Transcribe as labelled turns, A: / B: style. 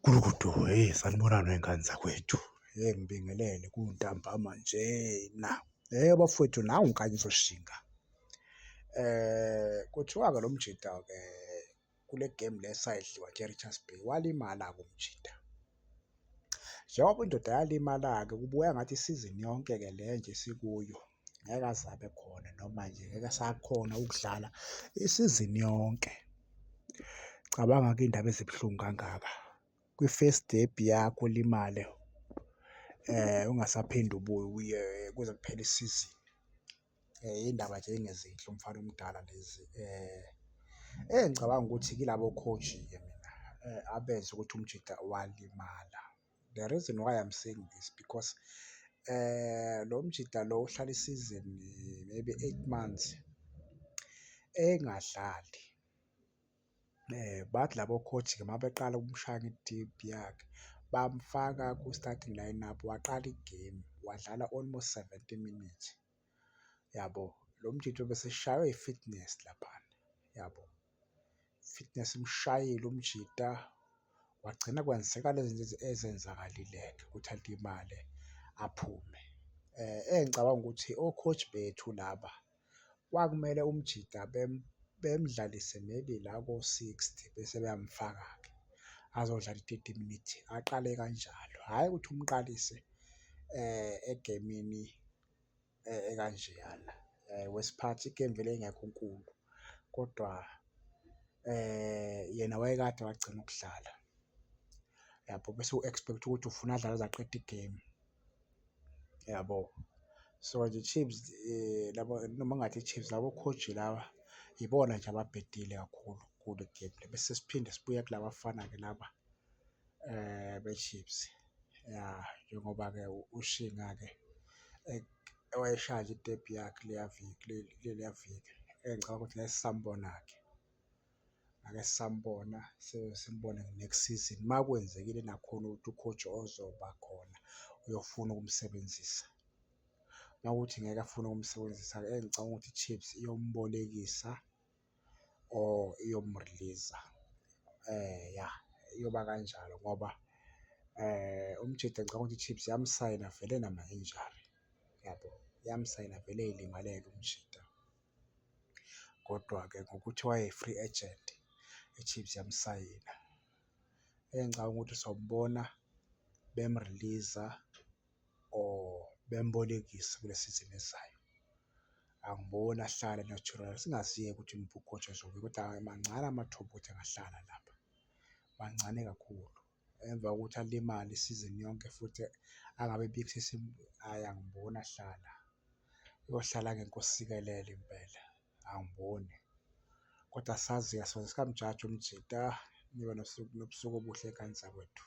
A: Gudugudu, hheyi sanibonani wey'ngane zakwethu. Hheyi ngibingelele kuntambama njena. Hheyi bafwethu nangu kanye uzoshinga. Kuthiwa-ke lo mjita-ke kule gemu le esayidliwa nje e-Richards Bay walimala-ke umjita. Njengoba indoda yalimala-ke kubukeka ngathi isizini yonke-ke le nje esikuyo. ngeke aze abe khona noma nje ngeke asakhona ukudlala isizini yonke. Cabanga-ke iy'ndaba ezibuhlungu kangaka kwi-first debut yakho ulimale ungasaphinde ubuye kuze kuphele isizini. Iy'ndaba nje ey'ngezinhle umfana omdala lezi engicabanga ukuthi yilabo coach-ke mina abenza ukuthi umjita walimala. The reason why I'm saying this because lo mjita lo uhlala isizini maybe eight months engadlali. Bathi labo coach-ke uma beqala ukumshaya nge-deep yakhe bamfaka ku-starting line up waqala igemu wadlala almost seventy minutes. yabo lo mjitho bese shaywa i-fitness laphana yabo fitness imshayile umjita wagcina kwenzeka lezi zinto ezenzakalile-ke ukuthi alimale aphume um engicabanga ukuthi o-coach bethu laba kwakumele umjita bemdlalise maybe la ko-sixty bese beyamfaka-ke azodlala i-thirty minutes aqale kanjalo hhayi ukuthi umqalise um egemini e-, ekanjeyana wesiphathi igemu vele ingekho nkulu kodwa yena wayekade wagcina ukudlala yabo, bese u-expect ukuthi ufuna adlale aze aqede igemu yabo. So nje i-Chiefs laba noma ngingathi i-Chiefs labo coach laba yibona nje ababhedile kakhulu kule gemu le, bese siphinde sibuya kulabafana-ke laba. eh beChiefs ya njengoba ke ushinga ke ewayeshaya nje itepu yakhe leya viki leya viki engicabanga ukuthi ngeke sisambona ke ngeke sisambona simbone next season uma kwenzekile nakhona ukuthi ucoach ozoba khona uyofuna ukumsebenzisa uma kuthi ngeke afune ukumsebenzisa engicabanga ukuthi iChiefs iyombolekisa. or iyomurliza yah iyoba kanjalo ngoba uMjita ngicabanga ukuthi iChiefs yamsayina vele nama-injury yabo, yamsayina vele ey'limalele uMjita. Kodwa-ke ngokuthi waye-free agent iChiefs yamsayina, engicabanga ukuthi sobona bemuriliza or bembolekise kule sizini ezayo. Angiboni ahlale natural, singaziyeka ukuthi uMphuphotshe Zobe kodwa mancane amathuba ukuthi angahlala lapha, mancane kakhulu. Emva kokuthi alimale isizini yonke futhi angabe ebikho hhayi angiboni ahlala, uyohlala ngenkosi sikelel impela. angiboni kodwa asazi asoze sikamjaji umjita nibe nosuku nobusuku obuhle ekhayeni zakwethu.